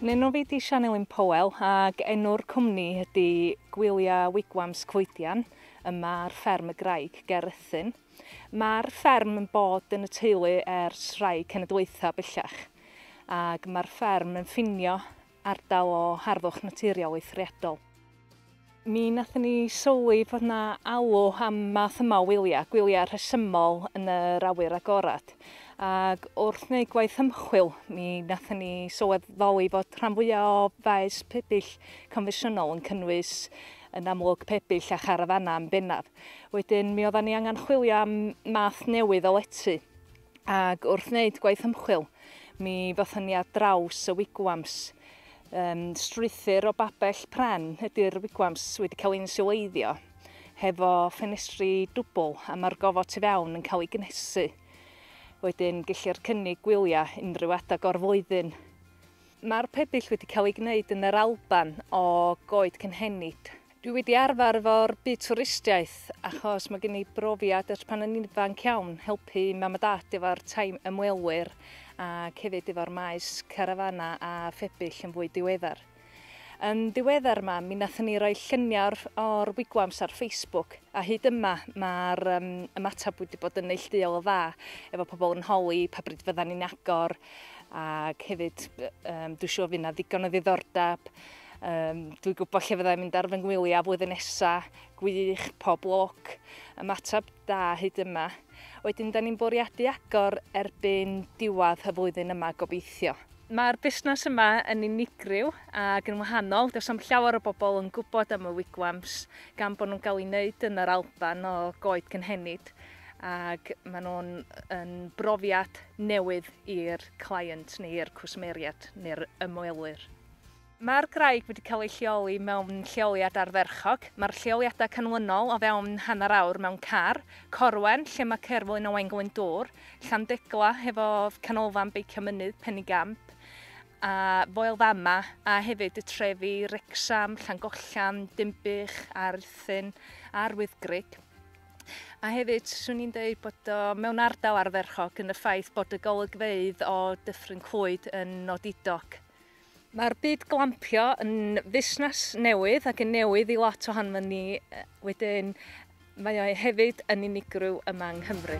Yn enw fi di Sianelin Powell ac enw'r cwmni ydy Gwylia Wigwams Coedian yma ar fferm y Graig ger Rhuthun. Mae'r fferm yn bod yn y teulu ers rhai cenedlaethau bellach ac mae'r fferm yn ffinio ardal o harddwch naturiol eithriadol. Mi wnaethon ni sylwi fod 'na alw am math yma o wyliau, gwyliau rhesymol yn yr awyr agored. Ac wrth wneud gwaith ymchwil, mi wnaethon ni sylweddoli fod rhan fwyaf o faes pebyll confensiynol yn cynnwys yn amlwg pebyll a charafanau yn bennaf. Wedyn mi oeddan ni angen chwilio am math newydd o lety. Ac wrth wneud gwaith ymchwil, mi ddothon ni ar draws y wigwams. Um, strwythur o babell pren ydy'r wigwams wedi cael ein siwleiddio, hefo ffenestri dwbl a mae'r gofod tu fewn yn cael ei gnesu. Wedyn, gellir cynnig gwyliau unrhyw adeg o'r flwyddyn. Mae'r pebyll wedi cael eu gwneud yn yr Alban o goed cynhenid. Dwi wedi arfer efo'r byd twristiaeth achos mae gen i brofiad ers pan o'n i'n ifanc iawn helpu mam a dad efo'r tai ymwelwyr ac hefyd efo'r maes carafanau a phebyll yn fwy diweddar. Yn ddiweddar ma, mi nathon ni roi lluniau o'r, o'r wigwams ar Facebook a hyd yma mae'r um, ymateb wedi bod yn neillduol o dda efo pobl yn holi pa bryd fyddan ni'n agor Ac hefyd, um, dwi'n siŵr fydd yna ddigon o ddiddordeb. Um, dwi'n gwybod lle fyddai'n mynd ar fy ngwyliau flwyddyn nesaf. Gwych, pob lwc. Ymateb da hyd yma. Wedyn, da ni'n bwriadu agor erbyn diwedd y flwyddyn yma gobeithio. Mae'r busnes yma yn unigryw ac yn wahanol. Does am llawer o bobl yn gwybod am y wigwams gan bod nhw'n cael ei wneud yn yr Alban o goed cynhenid. ac maen nhw'n yn brofiad newydd i'r client neu'r cwsmeriad neu'r ymwelwyr. Mae'r graig wedi cael ei lleoli mewn lleoliad ardderchog. Mae'r lleoliadau canlynol o fewn hanner awr mewn car, Corwen lle mae Cerflun Owain Glyndŵr, Llandegla hefo canolfan beicio mynydd Penigamp a Foel Fama a hefyd y trefi Wrecsam, Llangollen, Dinbych, Arthyn a'r Wyddgrug. A hefyd, swn i'n dweud bod o mewn ardal arferchog yn y ffaith bod y golygfeydd o Dyffryn Clwyd yn nodidog. Mae'r byd glampio yn fusnes newydd ac yn newydd i lot ohono ni wedyn mae o hefyd yn unigryw yma yng Nghymru.